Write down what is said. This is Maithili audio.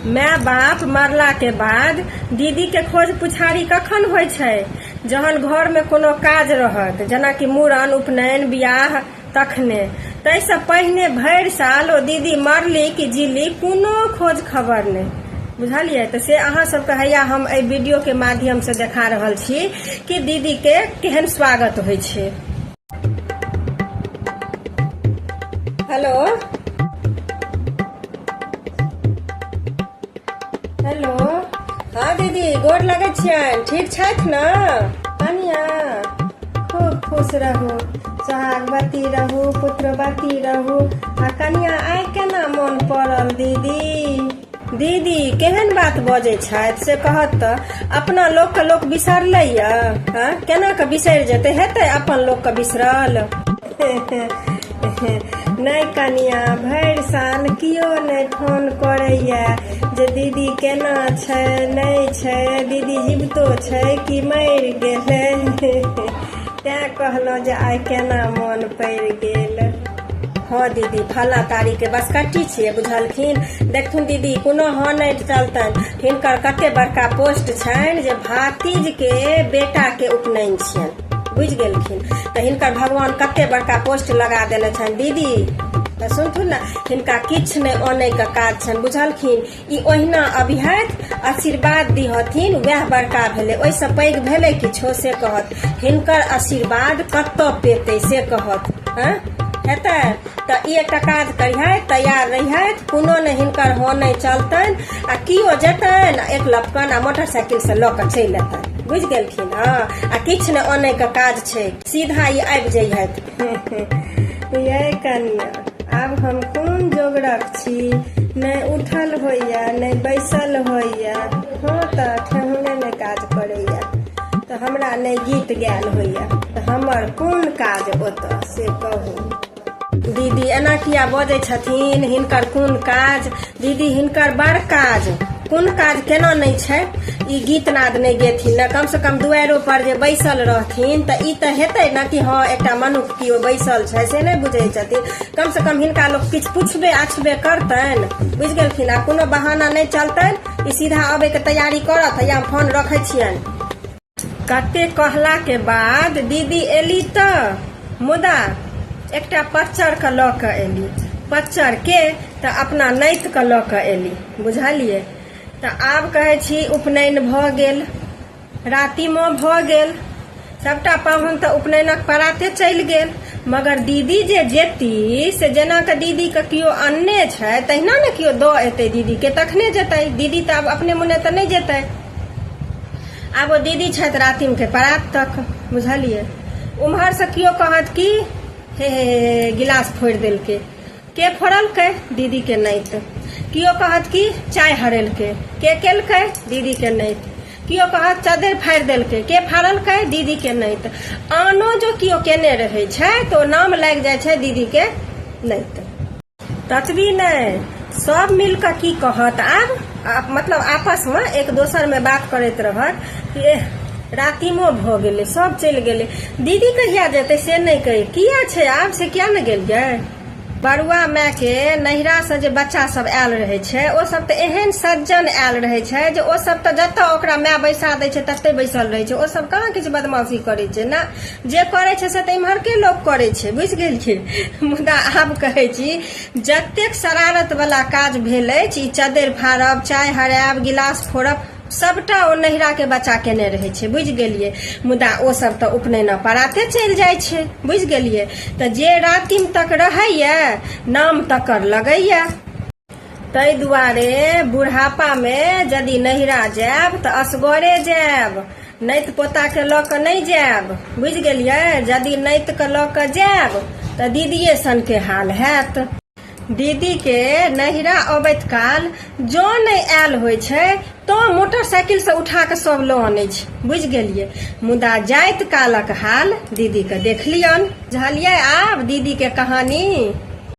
माय बाप मरला के बाद दीदी के खोज पुछारी कखन होइ छै जहन घर में कोनो काज रहत जेना कि मूड़न उपनयन बियाह तखने ताहि से पहिने भरि साल ओ दीदी मरली कि जीली कोनो खोज खबर नहि बुझलियै तऽ से अहाँ सबके हैया हम एहि वीडियो के माध्यम से देखा रहल छी कि दीदी के केहन स्वागत होइ छै हेलो हेलो हाँ दीदी गोर लगै छियनि ठीक छथि ने कनिया खूब खुश रहू सोहागवती रहू पुत्रवती रहू आ कनिया आइ केना मोन पड़ल दीदी दीदी केहन बात बजै छथि से कहत तऽ अपना लोकके लोक बिसरलै यऽ हँ केना कऽ बिसरि जेतै हेतै अपन लोकके बिसरल नहि कनिया भरि साल केओ नहि फोन करैए जे दीदी केना छै नहि छै दीदी जीवतो छै कि मरि गेलै तैँ कहलहुँ जे आइ केना मोन पड़ि गेल हँ दीदी फला तारीख के बसकट्टी छियै बुझलखिन देखथुन दीदी कोनो हँ नहि चलतन हिनकर कते बड़का पोस्ट छनि जे भातीज के बेटा के उपनयन छियनि बुझि गेलखिन तऽ हिनकर भगवान कते बड़का पोस्ट लगा देने छनि दीदी तऽ सुनथुन ने हिनका किछु नहि आनयके काज छनि बुझलखिन ई ओहिना अभिहत आशीर्वाद दिहथिन वएह बड़का भेलै ओहिसँ पैघ भेलै किछो से कहत हिनकर आशीर्वाद कतऽ पेतै से कहत हँ हेतै तऽ ई एकटा काज करिहथि तैयार रहिहथि कोनो नहि हिनकर हो नहि चलतनि आ किओ जेतनि एक लपकन आ मोटरसाइकिलसँ लऽ कऽ चलि अयतनि बुझि गेलखिन हँ आ किछु नहि अनैके काज छै सीधा ई आबि जइहथि ये कनिया आब हम कोन जोगरक छी नहि उठल होइए नहि बैसल होइए हँ तऽ ठेहुने नहि काज करैए तऽ हमरा नहि गीत गायल होइए तऽ हमर कोन काज ओतऽ से कहू दीदी एना किया बजै छथिन हिनकर कोन काज दीदी हिनकर बड़ काज कोन काज केना नहि छै ई गीत नाद नहि गेथिन ने कम से कम दुआरो पर जे बैसल रहथिन तऽ ई तऽ हेतै ने कि हँ एकटा मनुख केओ बैसल छै से नहि बुझै छथिन कम से कम हिनका लोक किछु पुछबे आछबे करतनि बुझि गेलखिन आ कोनो बहाना नहि चलतनि ई सीधा अबैके तैयारी करत या हम फोन रखै छियनि कते कहला के बाद दीदी एली तऽ मुदा एकटा पच्चर के लऽ के एली पच्चर के तऽ अपना नैत के लऽ के एली बुझलियै तऽ आब कहै छी उपनयन भऽ गेल रातिमो भऽ गेल सभटा पाहुन तऽ उपनयनक पराते चलि गेल मगर दीदी जे जेती से जेना कऽ दीदी के केओ अन्ने छै तहिना ने केओ दऽ एतै दीदी के तखने जेतै दीदी तऽ आब अपने मुने तऽ नहि जेतै आब ओ दीदी छथि रातिमके परात तक बुझलियै उम्हरसँ केओ कहत कि हे हे हे हे, गिलास फोड़ि देलकै के फोड़लकै दीदीके नाइत केओ कहत कि चाय हरेलकै के केलकै दीदीके नाइत केओ कहत चदरि फाड़ि देलकै के फाड़लकै दीदीके नाइत आनो जो केओ केने रहै छै तऽ ओ नाम लागि जाइ छै दीदीके नाइत ततबी नहि सब मिल कऽ की कहत आब आ मतलब आपसमे एक दोसरमे बात करैत रहत कि एह रातिमो भऽ गेलै सब चलि गेलै दीदी कहिया जेतै से नहि कही किया छै आब से किया नहि गेलियै बरुआ मायके नैहरासँ जे बच्चा सब आयल रहै छै ओ सब तऽ एहन सज्जन आयल रहै छै जे ओ सब तऽ जतऽ ओकरा माय बैसा दै छै ततै बैसल रहै छै ओ सब कहाँ किछु बदमाशी करै छै ने जे करै छै से तऽ इम्हरके लोक करै छै बुझि गेलियै मुदा आब कहै छी जतेक शरारत वाला काज भेल अछि ई चद्दरि फाड़ब चाय हरायब गिलास फोड़ब सभटा ओ नैहराके बच्चा केने रहै छै बुझि गेलियै मुदा ओ सब तऽ उपनयन पराते चलि जाइ छै बुझि गेलियै तऽ जे रातिम तक रहैया नाम तकर लगैया ताहि दुआरे बुढ़ापामे यदि नैहरा जायब तऽ असगरे जायब नैत पोताके लऽ कऽ नहि जायब बुझि गेलियै यदि नैतके लऽ कऽ जायब तऽ दीदिए सनके हाल हैत दीदीके नैहरा अबैत काल जँ नहि आयल होइ छै तँ मोटरसाइकिलसँ उठा कऽ सभ लऽ अनै छै बुझि गेलियै मुदा जाइत कालक हाल दीदीके देखलियनि बुझलियै आब दीदीके कहानी